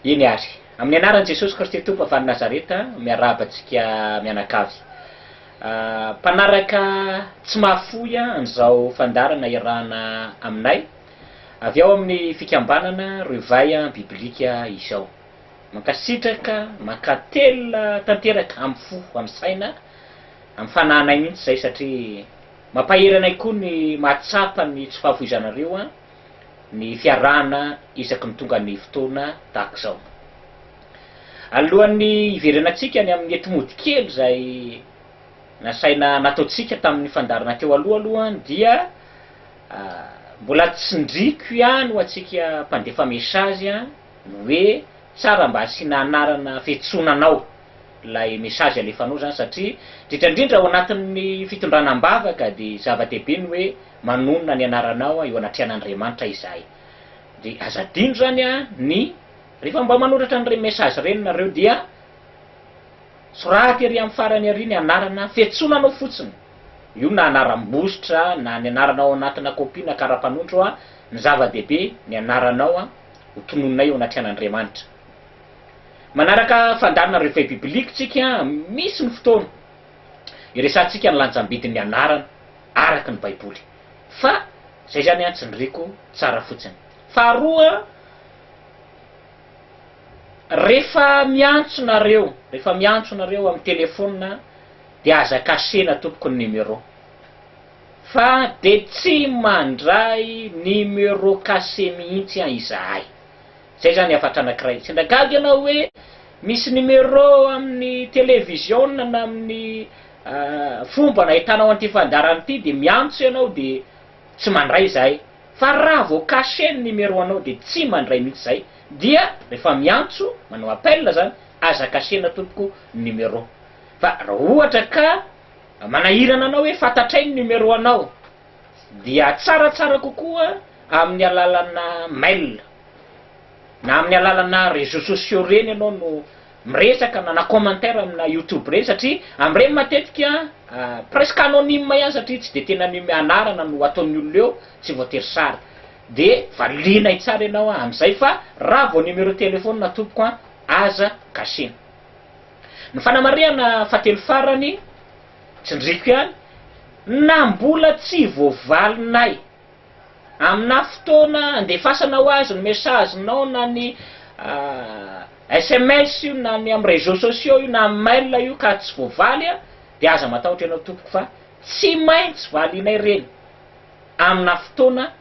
Eny ary. Amin'ny anaran'i Jesosy Kristy Tompo avy any Nazareta, miarahaba antsika mianakavy. Mpanaraka tsy mahafoy an'izao fandaharana iarahana aminay. Avy ao amin'ny fikambanana Reveil Biblique izao. Mankasitraka, mankatelina tanteraka amin'ny fo, amin'ny saina, amin'ny fanahinay mihitsy izay satria mampahery anay koa ny mahatsapa ny tsy fahafoizanareo ny fiarahana isaky ny tonga ny fotoana tahaka izao. Alohan'ny hiverenantsika any amin'ny enti-mody kely izay nasaina nataontsika tamin'ny fandaharana teo aloha aloha dia Mbola tsindriko ihany ho antsika mpandefa message ny hoe tsara mba asiana anarana fiantsonanao ilay message alefanao izany satria indrindra indrindra ao anatin'ny fitondrana am-bavaka dia zava-dehibe ny hoe manonona ny anaranao eo anatrehan'Andriamanitra izahay. Dia aza adino izany ny rehefa mba manoratra an'ireny message ireny nareo dia soraty ery amin'ny farany ery ny anarana fiantsonanao fotsiny. Io na anaram-bositra na ny anaranao ao anatina copie na kara-panondro an, ny zava-dehibe ny anaranao an ho tononinay eo anatrehan' Andriamanitra. Manaraka fandaharana Reveil Biblique tsika an, misy ny fotoana iresahantsika ny lanjam-bidin' ny anarana araka ny baiboly. Fa zay zany an tsy niriko tsara fotsiny. Faharoa an, refa miantso nareo, refa miantso nareo am telephone an, Dia aza kasihina tompoko ny numéro fa de tsy mandray numéro cassé mihitsy an izahay. Zay zany hafatra anakiray. Sendra gaga ianao hoe misy numéro amin'ny televiziona na amin'ny fombana ahitanao an'ity fandaharana ity dia miantso ianao dia tsy mandray izahay. Fa raha vao cassé ny numéro anao dia tsy mandray mihitsy izahay. Dia rehefa miantso, manao appel zany, aza kasihina tompoko ny numéro. Fa raha ohatra ka manahirana anao hoe fantatray ny numéro anao dia tsaratsara kokoa amin'ny alalana mail na amin'ny alalana réseaux sociaux ireny ianao no miresaka na na commentaire amina youtube ireny satria amin'ireny matetika presque anonyme ihany satria tsy dia tena ny anarana no ataon'ny olona eo tsy voatery sary dia valianay tsara ianao amin'izay fa raha vao numéro téléphone tompoko an aza gasiana. Ny fanamarihana fahatelo farany, tsindriako ihany, na mbola tsy voavalinay aminà fotoana andefasana ho azy ny message-nao na ny sms io na ny amin'ny réseaux sociaux io na amin'ny mail io ka tsy voavaly dia aza matahotra ianao tompoko fa tsy maintsy valianay ireny aminà fotoana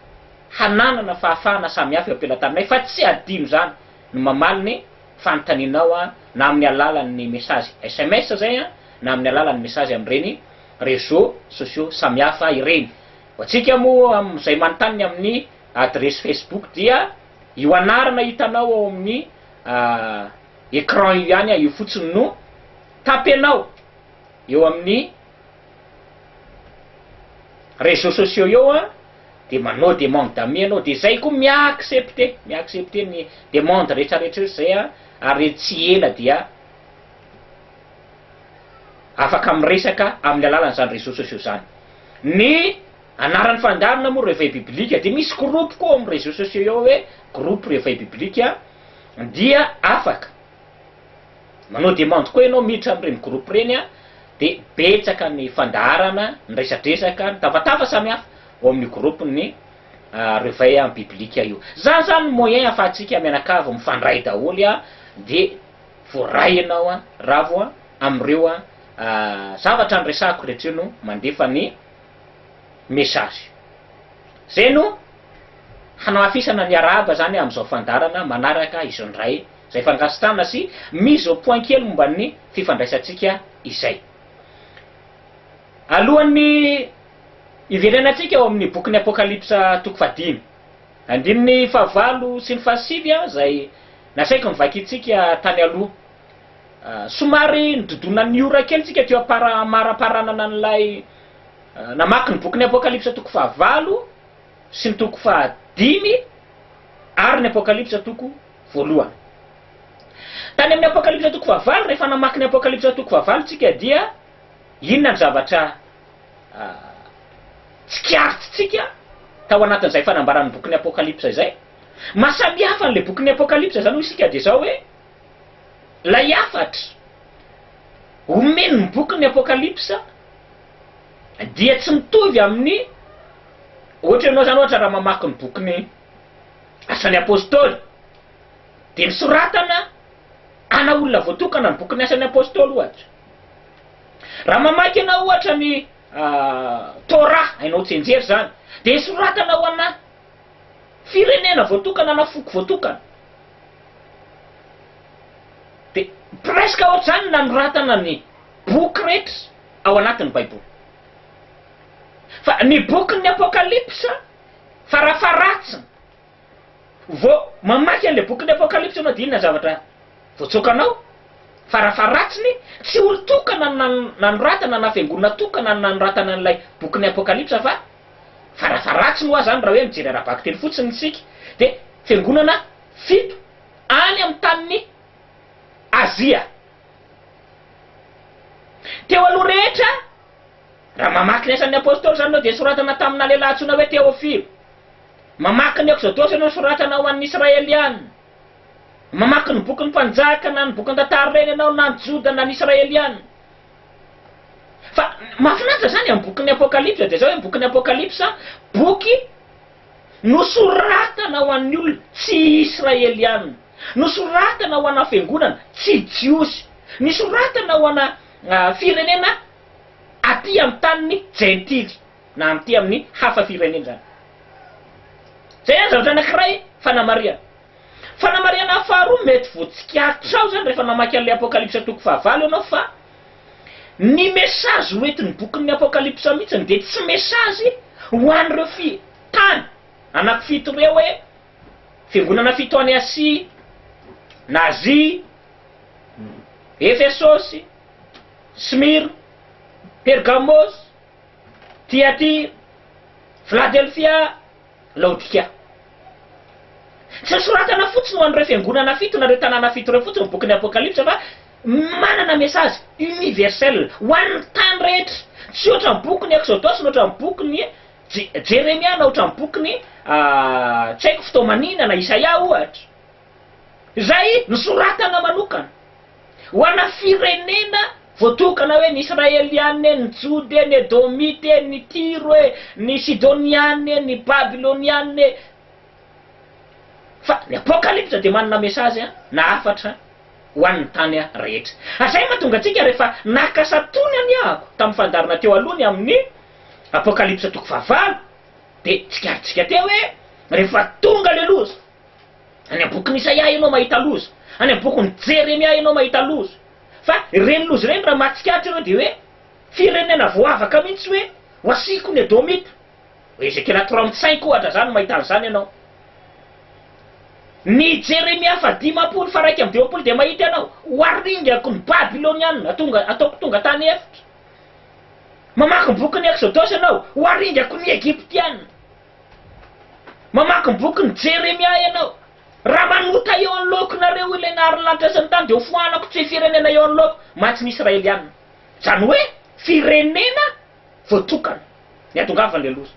hananana fahafahana samihafa eo am-pelantanonay fa tsy adino izany no mamaly ny fanontanianao na amin'ny alalan'ny message sms izay na amin'ny alalan'ny message amin'ireny réseaux sociaux samihafa ireny. Ho antsika moa amin'izay manontany ny amin'ny adiresy facebook dia io anarana hitanao ao amin'ny écran io ihany io fotsiny no tapenao eo amin'ny réseaux sociaux eo. de manao demande d'amis anao de zay koa mi accepter mi accepter ny demande rehetra rehetra rehetra zay an ary tsy ela dia afaka miresaka amin'ny alalan'izany réseaux sociaux zany ny anaran'ny fandaharana moa réveil biblique de misy groupe koa ao amin'ny réseaux sociaux ao hoe groupe réveil biblique dia afaka Manao demande koa ianao miditra amin'ireny groupe ireny an, dia betsaka ny fandaharana, ny resadresaka, ny tavatava samihafa ao amin'io groupe ny reveil en biblique io. Izany izany ny moyen ahafahantsika mianakavy mifandray daholo an, dia voaray ianao an, ravo an, amin'ireo zavatra niresahako rehetra ireo no mandefa ny message. Izay no hanamafisana ny arahaba izany amin'izao fandaharana manaraka izao indray. izay fangasitrahana sy mise au point kely momba ny fifandraisantsika izay. Alohan'ny hiverenantsika ao amin'ny bokin'ny Apokalypsa toko fahadimy, andininy fahavalo sy ny fahasivy aho izay nasaiko novakintsika tany aloha. Somary nododonan'ny ora kely tsika teo am-paramparanana an'ilay namaky ny bokin'ny Apokalypsa toko fahavalo, sy ny toko fahadimy ary ny Apokalypsa toko voalohany. Tany amin'ny Apokalypsa toko fahavalo, rehefa namaky ny Apokalypsa toko fahavalo tsika dia inona ny zavatra tsikaritrintsika tao anatin'izay fanambaran'ny bokin'ny Apokalypsa izay? Maha samy hafa an'ilay bokin'ny Apokalypsa izany hoy isika dia izao hoe, ilay hafatra omen'ny bokin'ny Apokalypsa, Dia tsy mitovy amin'ny ohatra ianao izany ohatra raha mamaky ny bokin'ny Asan'ny Apostoly dia nosoratana ana olona voatokana ny bokin'ny Asan'ny Apostoly ohatra. Raha mamaky ianao ohatra ny Torah hainao tsianjery izany dia nosoratana ho ana firenena voatokana ana foko voatokana. Dia presque ohatr'izany ny nanoratana ny boky rehetra. ao anatin'ny Baiboly. Fa ny bokin'ny Apokalypsa, farafaharatsiny, vao mamaky an'ilay bokin'ny Apokalypsa ianao dia inona ny zavatra voatsoakanao? Farafaharatsiny, tsy olon-tokana no nanoratana na fiangonana tokana no nanoratana an'ilay bokin'ny Apokalypsa fa, farafaharatsiny ho'a izany raha hoe mijery ara-bakiteny fotsiny isika, dia fiangonana fito any amin'ny tanin'i Azia. Teo aloha rehetra, raha mamaky ny Asan'ny Apostoly izany ianao dia soratana tamina lehilahy antsoina hoe Teofilo. Mamaky ny Ekzodosy ianao soratana ho an'ny Israeliana. Mamaky ny Bokin'ny Mpanjaka na ny Bokin-tantara ireny ianao na ny Joda na ny Israeliana. Fa mahafinaritra izany amin'ny Bokin'ny Apokalypsa dia izao hoe ny Bokin'ny Apokalypsa, boky. Nosoratana ho an'ny olona tsy Israeliana. Nosoratana ho ana fiangonana tsy Jiosy. Nisoratana ho ana firenena aty amin'ny tanin'ny Jentily, na aty amin'ny hafa firenena izany. Izay ihany zavatra anankiray fanamarihana. Fanamarihana faharoa mety voatsikaritra ao izany rehefa namaky an'ilay Apokalypsa toko fahavalo ianao fa, Ny mesazy ho entin'ny bokin'ny Apokalypsa mihitsy dia tsy mesazy ho an'ireo fi, tany anankifito ireo hoe, fiangonana fito any Asia, na Azia, Efesosy, Smyrna, Pergamosy, Tiatira, Filadelfia, Laodikia. Tsy nosoratana fotsiny ho an'ireo fiangonana fito na ireo tanàna fito ireo fotsiny ny bokin'ny Apokalypsa fa manana mesazy universel ho an'ny tany rehetra, tsy hoatran'ny bokin'i Ekzodosy na hoatran'ny bokin'i Jeremia na hoatran'ny bokin'i, tsy haiko, Fitoamanina na Isaia ohatra. Izay nosoratana manokana ho ana firenena voatokana hoe ny Israeliana e, ny Jody e, ny Edomita e, ny Tiro e, ny Sidoniana e, ny Babyloniana e. Fa ny Apokalypsa dia manana mesazy na hafatra ho an'ny tany rehetra. Ary izay no mahatonga antsika rehefa naka satony aniahako tamin'ny fandarina teo aloha ny amin'ny Apokalypsa toko fahavalo dia tsikarintsika teo hoe rehefa tonga ilay loza, Any amin'ny bokin'i Isaia ianao mahita loza, any amin'ny bokin'i Jeremia ianao mahita loza. Fa ireny loza ireny raha mahatsikaritra ianao dia hoe firenena voavaka mihitsy hoe ho asiako ny Edomita. Hoe Ezekiela trente cinq ohatra izany no mahita an'izany ianao. Ny Jeremia faha dimampolo faha iraika amby dimampolo dia mahita ianao ho aringako ny Babylonianina atonga ataoko tonga tany efitra. Mamaky ny bokin'ny Exodosy ianao ho aringako ny Egyptianina. Mamaky ny bokin'i Jeremia ianao. Raha manota eo anoloankonareo ilay naharin'ny lanitra sy ny tany, dia hofoanako tsy firenena eo anoloako mantsy ny Israelianina. Izany hoe, firenena voatokana, ny hahatongavan'ilay loza.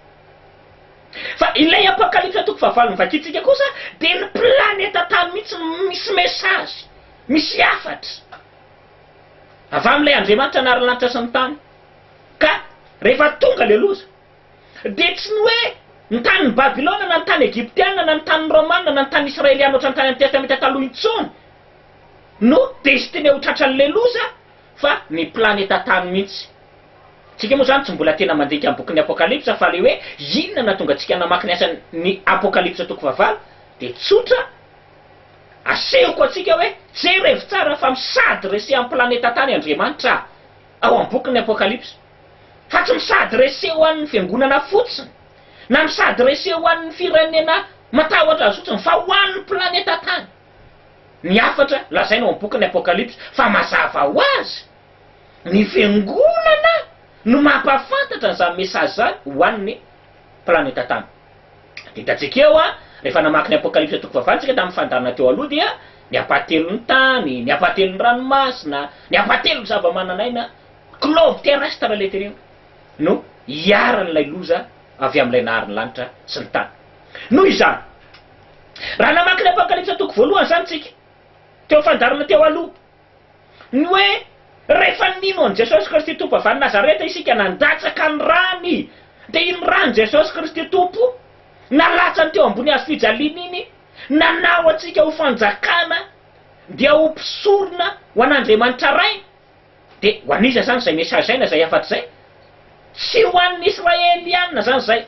Fa ilay Apokalypsa toko fahavalo novakintsika kosa dia ny planeta tany mihitsy no misy mesazy, misy hafatra avy amin'ilay Andriamanitra naharin'ny lanitra sy ny tany. Ka rehefa tonga ilay loza, Dia tsy ny hoe ny tanin'i Babylona na ny tany Egyptiana na ny tanin'ny Romana na ny tanin'ny Israeliana ohatran'ny tany amin'ny Testamenta Taloha intsony no destiné ho tratran'ilay loza fa ny planeta tany mihitsy. Isika moa izany tsy mbola tena mandinika ny bokin'ny Apokalypsa fa ilay hoe inona no nahatonga antsika namaky ny asan'ny Apokalypsa toko fahavalo dia tsotra, asehoko antsika hoe jerevo tsara fa misady resehan'ny planeta tany Andriamanitra ao amin'ny bokin'ny Apokalypsa. fa tsy misadresse ho an'ny fiangonana fotsiny na misadresse ho an'ny firenena matahotra azy fotsiny fa ho an'ny planeta tany ny hafatra lazaina ao amin'ny bokin'ny apokalypsy fa mazava ho azy ny fiangonana no mampahafantatra an'izany message izany ho an'ny planeta tany dia hitantsika eo an rehefa namaky ny apokalypsy toko fahavalo isika tamin'ny fandaharana teo aloha dia ny hampahatelon'ny tany ny hampahatelon'ny ranomasina ny hampahatelon'ny zavamananaina Globe terrestre ilay tenenina no iharan'ilay loza avy amin'ilay nahary ny lanitra sy ny tany. Noho izany, raha namaky ny Apokalypsa toko voalohany izany isika, teo fandaharana teo aloha, ny hoe rehefa nino an'i Jesosy Kristy Tompo avy any Nazareta isika nandatsaka ny rany, dia iny ran'i Jesosy Kristy Tompo nalatsany teo ambony hazo fijaliana iny nanao antsika ho fanjakana dia ho mpisorona ho an'Andriamanitra Rainy. Dia ho an'iza izany izay messager-na izay hafatra izay? Tsy ho an'ny Israeliana izany izay,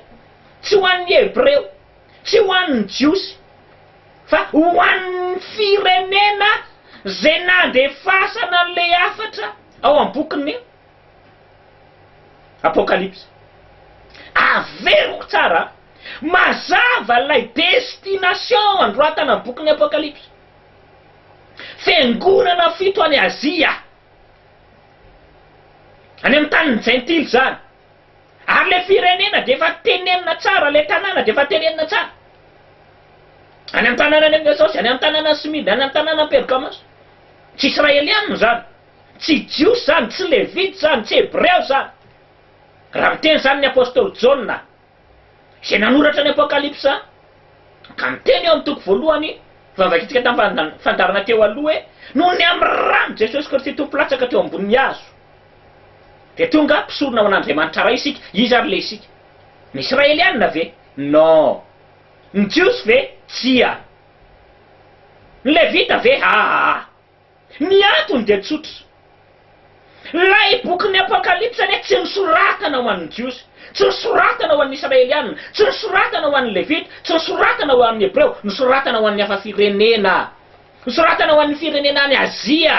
tsy ho an'ny Hebreo, tsy ho an'ny Jiosy, fa ho an'ny firenena izay nandefasana an'ilay hafatra ao amin'ny bokin'ny Apokalypsa. Averiko tsara, mazava ilay destination anoratana ny bokin'ny Apokalypsa. Fiangonana fito any Azia, any amin'ny tanin'ny Jentily izany. Ary ilay firenena dia efa tenenina tsara, ilay tanàna dia efa tenenina tsara. Any amin'ny tanànan'i Efesosy, any amin'ny tanànan'i Smyrna, any amin'ny tanànan'i Pergamosy. Tsy Israelianina izany, tsy Jiosy izany, tsy Levita izany, tsy Hebreo izany, raha miteny izany ny apostoly Jaona. Izay nanoratra ny Apokalypsa ka niteny eo amin'ny toko voalohany, vavakitsika tamin'ny fandaharana teo aloha hoe, Noho ny amin'ny ran'i Jesosy Kristy Tompo latsaka teo ambonin'ny hazo, dia tonga mpisorona ho an'Andriamanitra Ray isika. Iza ary ilay isika? Ny Israelianina ve? Non. Ny Jiosy ve? Tsia. Ny Levita ve? Aa. Ny antony dia tsotra. Ilay bokin'ny Apokalypsy anie tsy nosoratana ho an'ny Jiosy, tsy nosoratana ho an'ny Israeliana, tsy nosoratana ho an'ny Levita, tsy nosoratana ho an'ny Hebreo, nosoratana ho an'ny hafa firenena. Nosoratana ho an'ny firenena any Azia.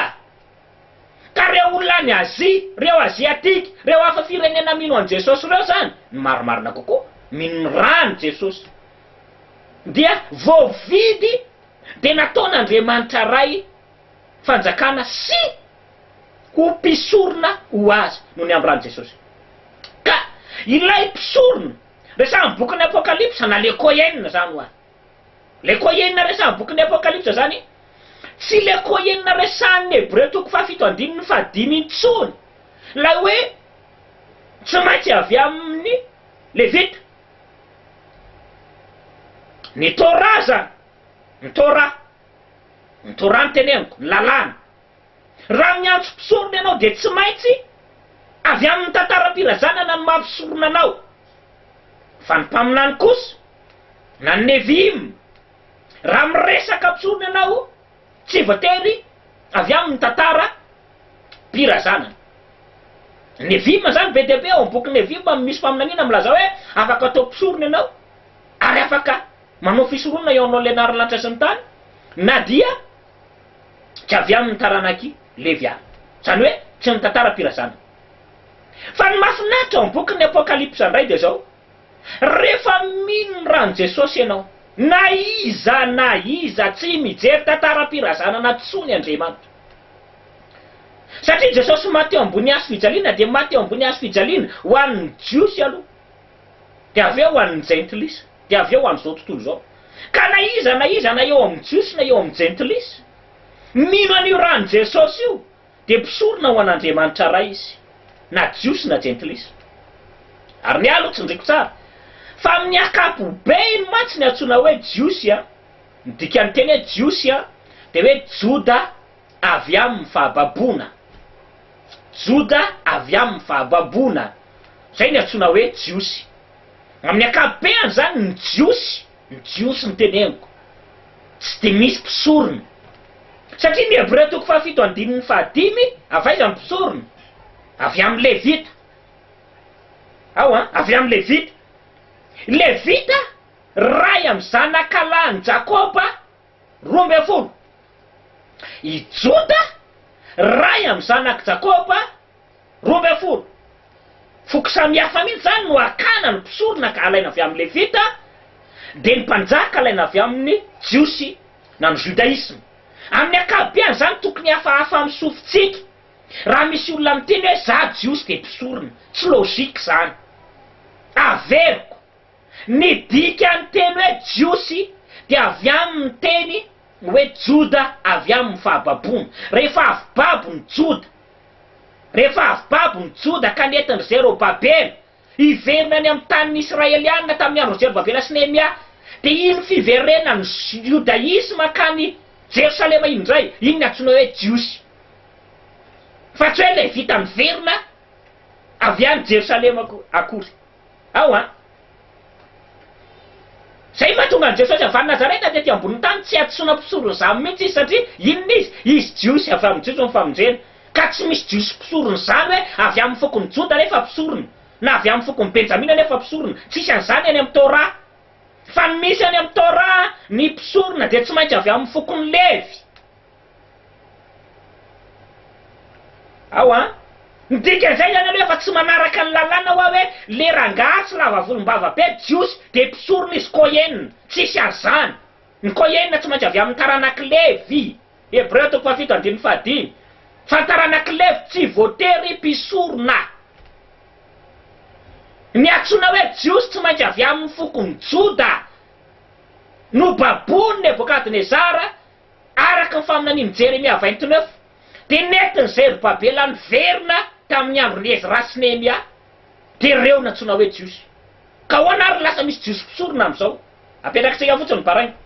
Ka ireo olona any Azia, ireo Aziatika, ireo hafa firenena mino an'i Jesosy ireo izany, ny marimarina kokoa, mino ny ran'i Jesosy, dia voavidy dia nataon'Andriamanitra Ray fanjakana sy ho mpisorona ho Azy no niambran'i Jesosy. Ka ilay mpisorona resahin'ny bokin'ny Apokalypsa, na le Kohen izany ho'a. Le Kohen resahin'ny bokin'ny Apokalypsa izany, tsy le Kohen resahin'ny Hebreo toko fahafito andininy fahadimy intsony, ilay hoe tsy maintsy avy amin'ny Levita. Ny Torah zany, ny Torah, ny Torah no teneniko, ny lalàna. Raha miantso mpisorona ianao dia tsy maintsy avy amin'ny tantaram-pirazanana no maha mpisorona anao. Fa ny mpaminany kosa, na ny Nevi'im, raha miresaka mpisorona ianao, tsy voatery avy amin'ny tantara. mpira zanany. Nefima izany be dia be, ao amin'ny boky Nefima misy faminaniana milaza hoe afaka atao mpisorona ianao ary afaka manao fisoronana eo anoloan'ny Lenarin'ny lanitra sy ny tany na dia tsy avy amin'ny taranak'i Levy àry, izany hoe tsy ny tantaram-pira zanany. Fa ny mahafinaritra ao amin'ny bokin'ny Apokalypsa indray dia izao, Rehefa mino ny ran'i Jesosy ianao, na iza na iza tsy mijery tantaram-pira zanana intsony Andriamanitra. Satria Jesosy maty eo ambony hazo fijaliana dia maty eo ambony hazo fijaliana ho an'ny Jiosy aloha, dia avy eo ho an'ny Jentilisa, dia avy eo ho an'izao tontolo izao. Ka na iza na iza na eo amin'ny Jiosy na eo amin'ny Jentilisa, mino an'io ran'i Jesosy io dia mpisorona ho an'Andriamanitra Ray izy, na Jiosy na Jentilisa. Ary ny ahy aloha tsindriko tsara fa amin'ny akapobeiny mantsy ny antsoina hoe Jiosy an! Ny dikan'ny teny hoe Jiosy dia hoe Joda avy amin'ny fahababoana. Joda avy amin'ny fahababoana. Izay no iantsoana hoe Jiosy. Amin'ny ankapobeny izany ny Jiosy, ny Jiosy no teneniko, tsy dia misy mpisorona. Satria ny Hebreo toko fahafito andininy fahadimy, avy aiza ny mpisorona? Avy amin'ny Levita. Ao an, avy amin'ny Levita. Levita Iray amin'ny zanakalahin'i Jakoba roa ambin'ny folo. I Joda, iray amin'ny zanak'i Jakoba roa ambin'ny folo. Foko samihafa mihitsy izany no hakana ny mpisorona ka alaina avy amin'ny Levita, dia ny mpanjaka alaina avy amin'ny Jiosy na ny Judaisme. Amin'ny ankapobeany izany tokony hafahafa amin'ny sofintsika. Raha misy olona miteny hoe za Jiosy dia mpisorona, tsy logique izany. Averiko. Ny dikan'ny teny hoe Jiosy dia avy amin'ny teny hoe Joda avy amin'ny fahababoana. Rehefa avy babo ny Joda, rehefa avy babo ny Joda ka nentin-dry Zerobabela hiverina any amin'ny tanin'ny Israelianina tamin'ny andron'i Zerobabela sy Nehemia, dia iny fiverenan'ny Jodaisma hankany Jerosalema iny indray, iny no antsoina hoe Jiosy. Fa tsy hoe Levita niverina avy any Jerosalema akory. ao an. Izay ny mahatonga an'i Jesosy avy any Nazareta tety ambonin'ny tany tsy hadisoana mpisoro ny zamy mihitsy izy satria inona izy? Izy Jiosy, avy amin'ny Jiosy ny famonjena. Ka tsy misy Jiosy mpisoro ny zany hoe avy amin'ny fokon'i Joda anefa mpisorona, na avy amin'ny fokon'i Benjamina anefa mpisorona, tsisy an'izany any amin'ny Torah. Fa ny misy any amin'ny Torah, ny mpisorona dia tsy maintsy avy amin'ny fokon'i Levy. Ao an! Ny dikan'izay zany aloha efa tsy manaraka ny lalàna hoa hoe le rangaha tsy lava volombava be jiosy de mpisorona izy Kohen, tsisy azy zany! Ny Kohen tsy maintsy avy amin'ny taranak'i Levy, Hebreo toko fahafito andininy fahadimy, fa ny taranak'i Levy tsy voatery mpisorona! Ny antsoina hoe jiosy tsy maintsy avy amin'ny fokon'i Joda! Nobaboin'i Nebokadnezara! Araka ny faminanian'i Jeremia vingt-neuf, dia nentin'i Zerobabela niverina tamin'ny andron'i Ezra sy Nehemia, dia ireo nantsoina hoe Jiosy. Ka ahoana àry ny lasa misy Jiosy mpisorona amin'izao? Apetrakitsika fotsiny ny baraingo.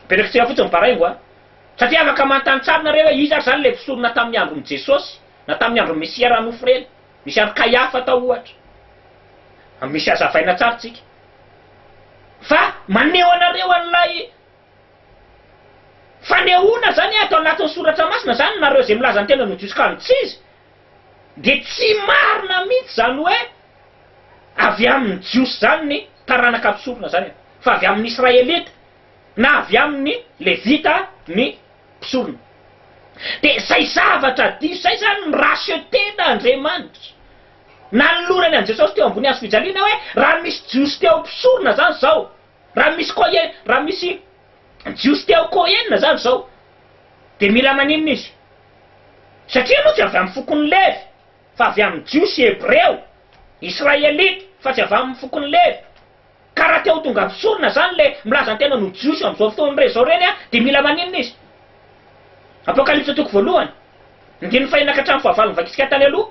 Apetrakitsika fotsiny ny baraingo an! Satria afaka manontany tsara nareo hoe iza ary izany ilay mpisorona tamin'ny andron'i Jesosy, na tamin'ny andron'ny Mesia raha nofo ireny. Misy an'i Kaiafa tao ohatra. Misy hazavaina tsara tsika. Fa maneho anareo an'ilay fanehoana izany ato anatin'ny soratra masina izany nareo izay milaza ny tenany ho jiosy kano tsy izy dia tsy marina mihitsy izany hoe avy amin'ny jiosy izany ny taranaka mpisorona izany e! fa avy amin'ny israelita na avy amin'ny levita ny mpisorona dia izay zavatra diso izay izany mi-racheter-na Andriamanitra Nanolorany an'i Jesosy teo ambony hazo fijaliana hoe, raha misy Jiosy te ho mpisorona izany izao, raha misy koa e, raha misy Jiosy te ho Kohenina izany izao, dia mila maninona izy? Satria moa tsy avy amin'ny fokon'i Levy, fa avy amin'ny Jiosy Hebreo, Israelita, fa tsy avy amin'ny fokon'i Levy. Ka raha te ho tonga mpisorona zany le milaza ny tenany ho jiosy amin'izao fotoana re zao reny de mila maninona izy? Apokalypsa toko voalohany andininy fahenina ka hatramin'ny fahavalo novakintsika tany aloha,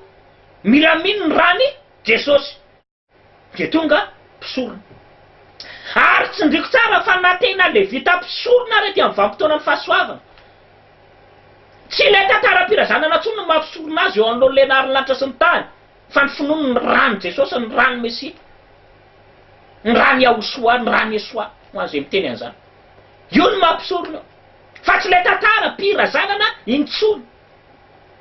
mila mino ny rany Jesosy de tonga mpisorona. Ary tsindriko tsara fa na tena levita mpisorona ary aty amin'ny vanim-potoanan'ny fahasoavana, tsy ilay tantaram-pirazanana tsony no maha mpisorona azy eo anoloan'ilay naharin'ny lanitra sy ny tany, Fa ny finoany ny ran'i Jesosy, ny ran'i Mesia, ny ran'i Yahushua, ny ran'i Yeshua, ho an'izay miteny an'izany. Io no maha-mpisorona eo. Fa tsy ilay tantara, mpy, razanana, intsony.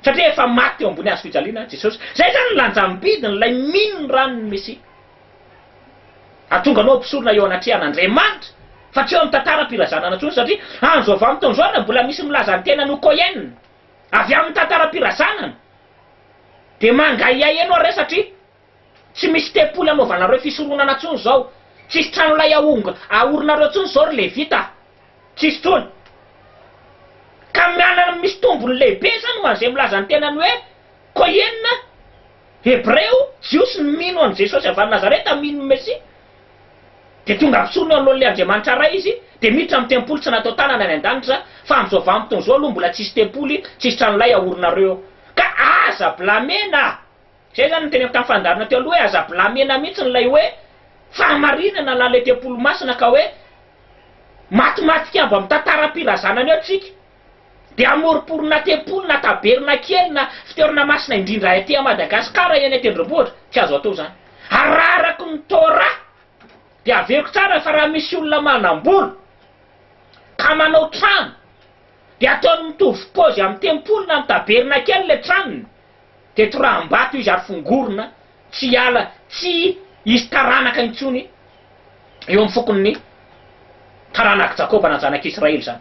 Satria efa maty teo ambony hazo fijaliana Jesosy. Izay izany ny lanjam-bidiny, ilay mino ny ran'ny Mesia. Atonganao ho mpisorona eo anatrehan'Andriamanitra, fa tsy eo amin'ny tantara, mpy, razanana intsony, satria andro avy amin'ny taonjaona mbola misy milaza ny tenany ho Cohen, avy amin'ny tantara, mpy, razanana. Dia mangahiahy ianao re satria tsy misy tempoly anaovanareo fisoronana intsony izao, tsisy trano lay aorinareo intsony izao ry Levita a! Tsisy intsony. Ka miala ny misy tombony lehibe izany ho an'izay milaza ny tenany hoe Koiena, Hebreo, Jiosy, ny mino an'i Jesosy avy any Nazareta, mino ny Mesia. Dia tonga ampisorony eo anoloan'ny ilay Andriamanitra Ray izy, dia miditra amin'ny tempoly tsy natao tanana any an-danitra, fa amin'izao vanim-potoana izao aloha mbola tsisy tempoly, tsisy tranolay aorinareo eo. Ka aza blamena! Izay izany no teneniko tamin'ny fandaharana teo aloha hoe aza blamena mihitsy ilay hoe fahamarinana na ilay tempoly masina ka hoe matimatika mba mitantara am-pirazanana eo tsika, dia hamoromporona tempoly na tabernakely na fitoerana masina indrindra aty Madagasikara eny an-tendrombohitra, tsy azo atao izany. Ararako ny Torah dia averiko tsara fa raha misy olona manam-bola ka manao trano dia ataony mitovy paozy amin'ny tempoly na amin'ny tabernakely ilay tranony, dia toraham-bato izy ary fongorina tsy hiala, tsy hisy taranaka intsony eo amin'ny fokon'ny taranak'i Jakoba na zanak'i Israely izany.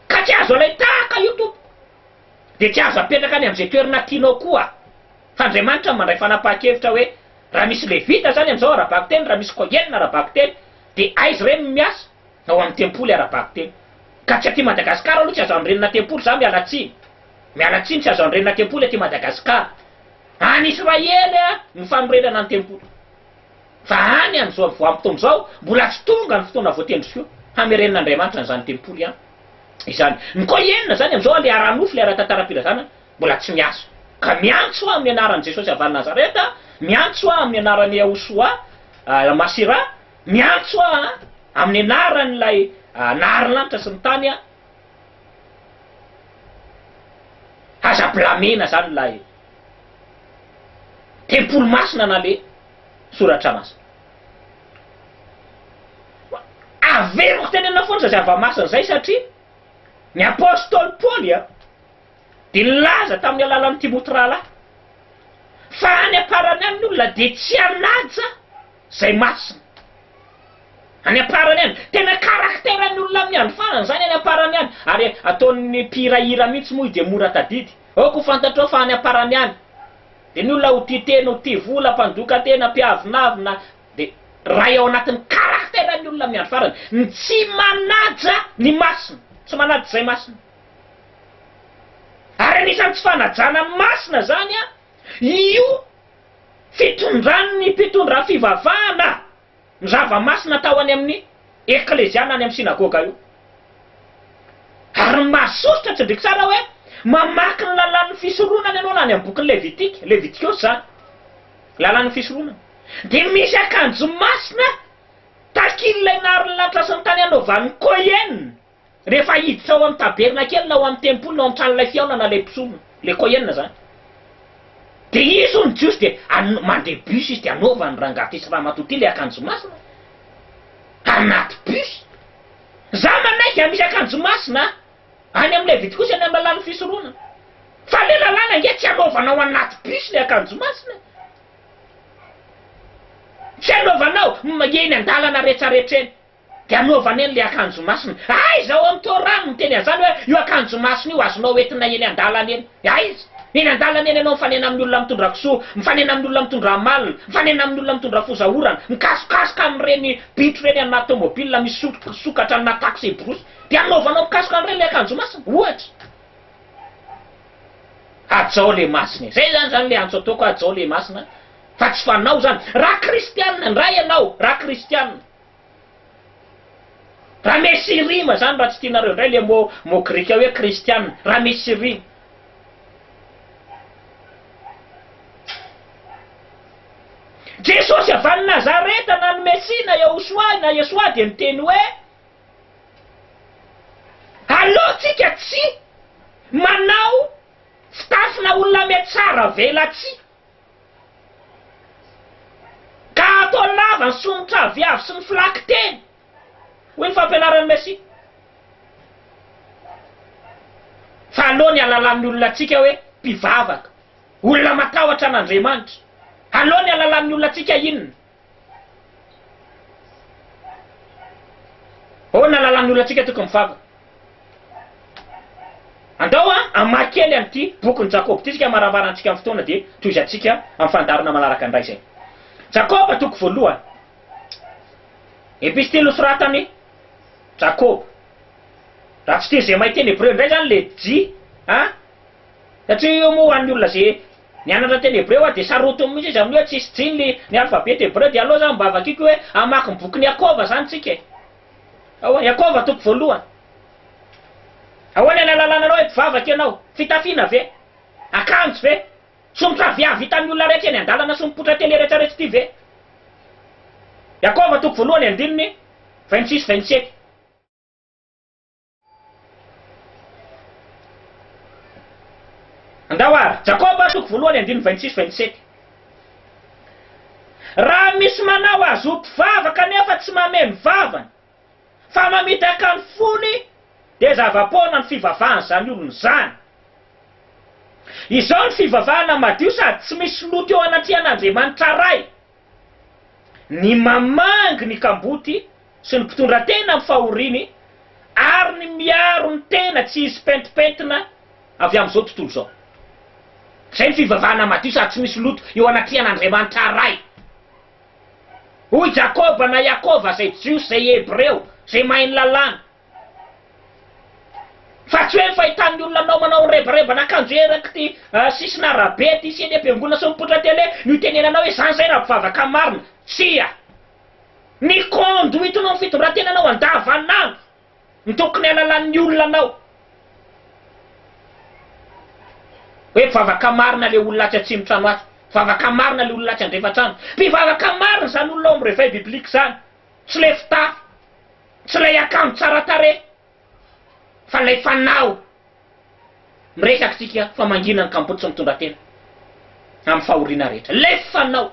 Ka tsy azo alain-tahaka io tompoko, dia tsy azo apetraka any amin'izay toerana tianao koa aho. Fa Andriamanitra no mandray fanapahan-kevitra hoe raha misy Levita izany amin'izao ara-bakiteny, raha misy Kohen ara-bakiteny, dia aiza ireny no miasa? Ao amin'ny tempoly ara-bakiteny. Ka tsy aty Madagasikara aloha tsy azo anorenana tempoly za, miala tsiny. Miala tsiny tsy azo andrenina tempoly aty Madagascar. Any Israely no fanorenana ny tempoly. Fa any an zao voampotoana zao mbola tsy tonga ny fotoana voatendriko hamerenina Andriamanitra an'izany tempoly an izany. Ny ko enina zany amzao an le ara nofo le ara tantaram-pirazana mbola tsy miasa. Ka miantso aho amin'ny anaran'i Jesosy avy any Nazareta, miantso aho amin'ny anaran'i Yahoushoua al Masirah, miantso aho amin'ny anaran'ilay nahary ny lanitra sy ny tany an, Aza blamena zany ilay tempoly masina na le soratra masina. Averiko teny aminao foana zay zava-masina zay satria ny apostoly Paoly dia nilaza tamin'ny alalan'i Timoty rahalahy fa any am-parany any ny olona dia tsy hanaja Zay masina. Any am-parany any. Tena caractère ny olona amin'ny andro farany izany any am-parany any. Ary ataon'ny mpihira hira mihitsy moa i dia mora tadidy. Aoka ho fantatrao fa any am-parany any. Dia ny olona ho tia tena, ho tia vola, mpandoka tena, mpiavonavona, dia ray ao anatin'ny caractère ny olona amin'ny andro farany. Ny tsy manaja ny masina. Tsy manaja izay masina. Ary anisan'ny tsy fanajana ny masina izany io. Fitondran' ny mpitondra fivavahana ny zava-masina tao any amin' ny eklezia na any amin' ny sinagôga io. Ary ny mahasosotra, tsindriako tsara hoe mamaky ny lalàn' ny fisoronana ianao na any amin' ny Bokin' ny Levitika, Levitikôsy izany, Lalàn' ny Fisoronana, dia misy akanjo masina, takil' ilay naharin' ny lanitra sy ny tany anaovan' ny Kôhen, Rehefa hiditra ao amin'ny tabernakely na ao amin'ny tempoly na ao amin'ny tranolay fihaonana ilay mpisolo, ilay kohen izany, dia izy hono ny Jiosy dia an, mandeha bus izy dia anaovan'ny rangahy ity sy ramatoa ity ilay akanjo masina anaty bus. Izaho manaiky an, misy akanjo masina any amin'ny Levitikosy any amin'ny lalàn'ny fisoronana. Fa ilay lalàna ange tsy anaovana ao anaty bus ilay akanjo masina e. Tsy anaovana ao, eny an-dalana rehetra rehetra eny. Dia anaovany an'ilay akanjo masina. Aiza ao amin'ny Torah no miteny an'izany hoe io akanjo masina io azonao entina eny an-dalana eny? Aiza? Eny an-dalana eny ianao mifanena amin'ny olona mitondra kisoa, mifanena amin'ny olona mitondra amalona, mifanena amin'ny olona mitondra foza orana, mikasokasoka amin'ireny bitro ireny any anaty tomobilina misy sokatra any anaty taxi brousse. Dia anaovanao mikasoka an'ireny ilay akanjo masina. Ohatra. Hajao ilay masina e! Izay izany izany ilay antso ataoko hoe hajao ilay masina fa tsy fanao izany. Raha kristiana indray ianao, raha kristiana. Raha misy rima zany raha tsy tianareo indray le mot mot grika hoe kristiana raha misy rima. Jesosy avy any Nazareta na ny Mesia na Yahoshuah na Yeshua dia niteny hoe Aleo tsika tsy manao fitafina olametsaravelatsia. Ka ataony lava ny somotra aviavy sy ny filakinteny, hoy ny fampianaran'i Messi. Fa aleo ny halalan'ny olona antsika hoe mpivavaka, olona matahotra an'Andriamanitra. Aleo ny halalan'ny olona antsika inona? Ahoana lalan'ny olantsika tokony vava? Andao an, hamaky kely an'ity bokin'i Jakoba ity isika amarabarantsika ny fotoana dia tohizantsika amin'ny fandaharana manaraka indray izay. Jakoba toko voalohany. Epistily nosoratan'i Jakoba. Raha tsy teny izay mahay teny Hebreo indray izany ilay JA Satria io moa ho an'ny olona izay nianatra teny hebreo aho dia sarotiny mihitsy izy amin'ny hoe tsisy jininy ny alphabet hebreo dia aleo zany mba vakiako hoe hamaky ny bokin'i Iakova zany tsika e! Ahoana? Iakova toko voalohany. Ahoana ilay lalàna anao hoe mpivavaka ianao? Fitafiana ve? Akanjo ve? Somotra avy hahavitan'ny olona rehetra eny an-dalana sy mipoitra tele rehetra rehetra ity ve? Iakova toko voalohany andininy vingt six vingt sept. Andao ary, Jakoba soko voalohany andininy vingt six vingt sept, Raha misy manao azy ho mpivavaka anefa tsy mameno vavany, fa mamitaka ny fony, dia zava-poana ny fivavahan'izany olona izany. Izao ny fivavahana madio sady tsy misy loto eo anatrehan'Andriamanitra Ray. ny mamangy ny kamboty sy ny mpitondra tena amin'ny fahoriany ary ny miaro ny tena tsy hisy pentimpentina avy amin'izao tontolo izao. Izay ny fivavahana madio sady tsy misy loto eo anatrehan'Andriamanitra Ray. Hoy Jakoba na Iakova, izay Jiosy, izay Hebreo, izay mahay ny Lalàna, Fa tsy hoe ny fahitan'ny olona anao manao ny rebarebana akanjo erak'ity sisin'arabe ity sy eny am-piangonana sy mipoitra tele no itenenanao hoe izany izay raha mpivavaka marina. Tsia. Ny conduite-nao amin'ny fitondran-tenanao andavanandro no tokony hahalalan'ny olona anao hoe mpivavaka marina ilay olona atsy atsimontrano atsy, mpivavaka marina ilay olona atsy andrefatrano. Mpivavaka marina izany olona ao amin'ny réveil biblique izany, tsy ilay fitafy. Tsy ilay akanjo tsara tarehy fa ilay fanao miresaka isika fa mangina ny kamboty sy mitondra tena amin'ny fahoriana rehetra. Ilay fanao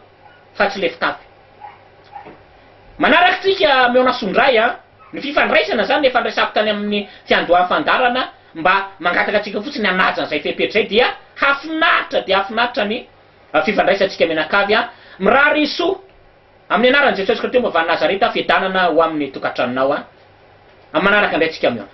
fa tsy ilay fitafy. Manaraka isika Mionasso indray an! Ny fifandraisana izany efa niresako tany amin'ny fiandohan'ny fandaharana mba mangataka antsika fotsiny hanaja an'izay fepetra izay dia hafinaritra dia hafinaritra ny fifandraisantsika mianakavy an! Mirary soa. Amin'ny anaran'i Jesosy Kristy momba an'i Nazareta, fiadanana ho amin'ny tokantranonao an! Amin'ny manaraka indray tsika mihaona.